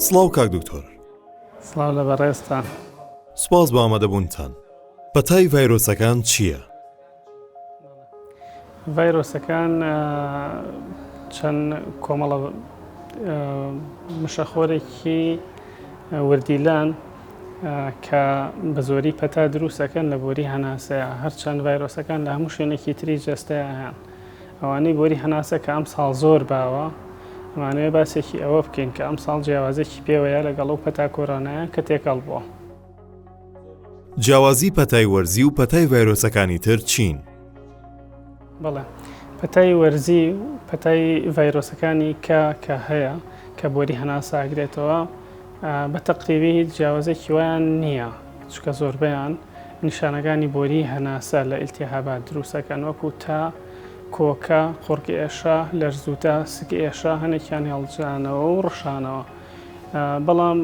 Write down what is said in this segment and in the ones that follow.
سڵاو کاک دکتۆر سڵاو لە بەڕێزتان سپاس بە ئامادەبوونتان پەتای ڤایرۆسەکان چییە؟ ڤایرۆسەکان چەند کۆمەڵە مشەخۆرێکی وردیلان کە بە زۆری پەتا دروست ئەکەن لە بۆری هەناسەیە، هەرچەند ڤایرۆسەکان لە هەموو شوێنێکی تری جەستەیە هەن. ئەوانەی بۆری هەناسە کە ئەمساڵ زۆر باوە، ئەمانەوێ باسێکی ئەوە بکەین کە ئەمساڵ جیاوازێکی پێوەیە لەگەڵ ئەو پەتا کۆرۆنایە کە تێکەڵ بووە. جیاوازی پەتای وەرزی و پەتای ڤایرۆسەکانی تر چین؟ بەڵێ پەتای وەرزی و پەتای ڤایرۆسەکانی کە کە هەیە کە بۆری هەناسە ئەگرێتەوە بە تەقریبی هیچ جیاوازێکی وایان نییە چکە زۆربیان نیشانەکانی بۆری هەناسە لە ئیلتیهابات دروستەکەن وەکو تا کۆکە قڕک ئێشە لەرزوتە سک ئێشە هەنێکیان هێڵجانەوە و ڕشانەوە بەڵام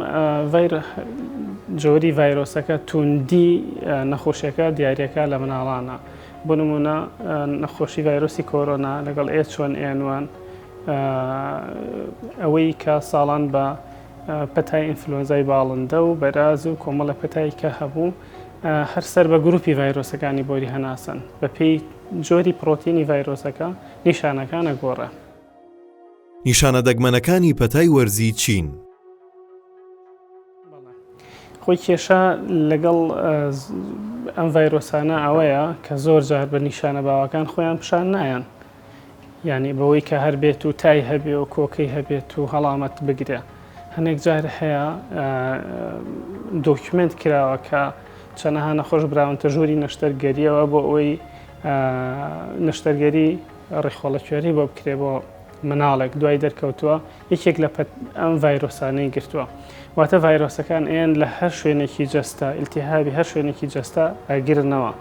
جۆری ڤایرۆسەکە توندی نەخۆشیەکە دیارەکە لە مناڵانە بۆ نموونە نەخۆشی ڤایرۆسی کۆرۆنا لەگەڵ ئێچ وەن ئێن وان ئەوەی کە ساڵان بە پەتای ئینفلۆنزای باڵندە و بەراز و کۆمەڵە پەتای کە هەبوو هەر سەر بە گروپی ڤایرۆسەکانی بۆری هەناسن بەپێی جۆری پرۆتینی ڤایرۆسەکە نیشانەکانە گۆڕە. نیشانە دەگمەنەکانی پەتای وەرزی چین. خۆی کێشە لەگەڵ ئەم ڤایرۆسانە ئەوەیە کە زۆر جار بە نیشانە باوەکان خۆیان پیشان نایەن یعنی بەوەی کە هەر بێت و تای هەبێ و کۆکەی هەبێت و هەڵامەت بگرێ هەنێک جار هەیە دۆکیومنت کراوە کە چەنەها نەخۆش براونتە ژووری نەشتەرگەریەوە بۆ ئەوەی نەشتەرگەری ڕیخۆڵەکوێری بۆ بکرێت بۆ مناڵێک دوای دەرکەوتووە یەکێک لە پەت ئەم ڤایرۆسانەی گرتووە واتە ڤایرۆسەکان ئەیان لە هەر شوێنێکی جەستە ئیلتیهابی هەر شوێنێکی جەستە ئەگرنەوە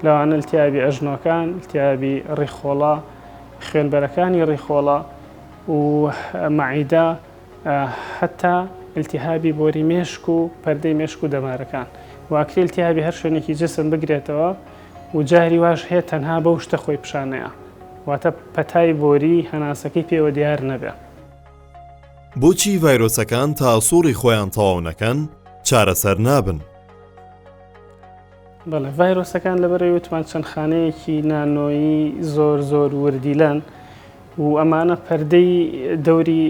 لەوانە التیابی ئەژنۆکان التیابی ڕیخۆڵە خوێنبەرەکانی ڕیخۆڵە و مەعیدا هەتا التیهابی بۆری مێشک و پەردەی مێشک و دەمارەکان واکری التیهابی هەر شوێنێکی جسم بگرێتەوە و جاری واش هەیە تەنها بەو شتە خۆی پیشان نەیا واتە پەتای بۆری هەناسەکەی پێوە دیار نەبێ. بۆچی ڤایرۆسەکان تا سوڕی خۆیان تەواو نەکەن چارەسەر نابن؟ بەڵێ ڤایرۆسەکان لەبەرەوەی وتمان چەند خانەیەکی نانۆیی زۆر زۆر وردیلەن، و ئەمانە پەردەی دەوری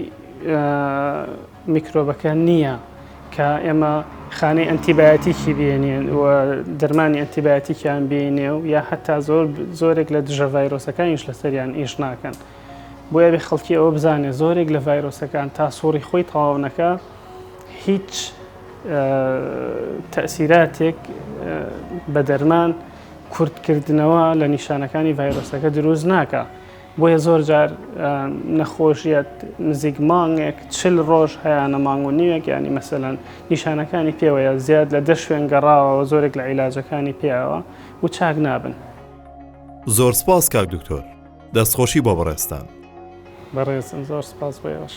میکرۆبەکە نییە کە ئێمە خانەی ئەنتیبایەتیکی بێنێن و دەرمانی ئەنتیبایەتیکیان بینێ و یا حتا زۆر زۆرێک لە دژە ڤایرۆسەکانیش لەسەریان ئیش ناکەن بۆیە بێ خەڵکی ئەوە بزانێت زۆرێک لە ڤایرۆسەکان تا سوڕی خۆی تەواونەکە هیچ تەسیراتێک بە دەرمان کورتکردنەوە لە نیشانەکانی ڤایرۆسەکە دروست ناکە بۆیە زۆر جار نەخۆشیت نزیک مانگێک چل ڕۆژ هەیانە مانگ و نیوێک ینی مەسەەن نیشانەکانی پێوەیە زیاد لە دە شوێن گەڕاوەوە زۆرێک لە عیلاجەکانی پێیەوە و چاک نابن. زۆر سپاس کاک دکتۆر دەستخۆشی بۆ بەڕێستان بەڕێزم زۆر سپاس بۆ ئێوەش.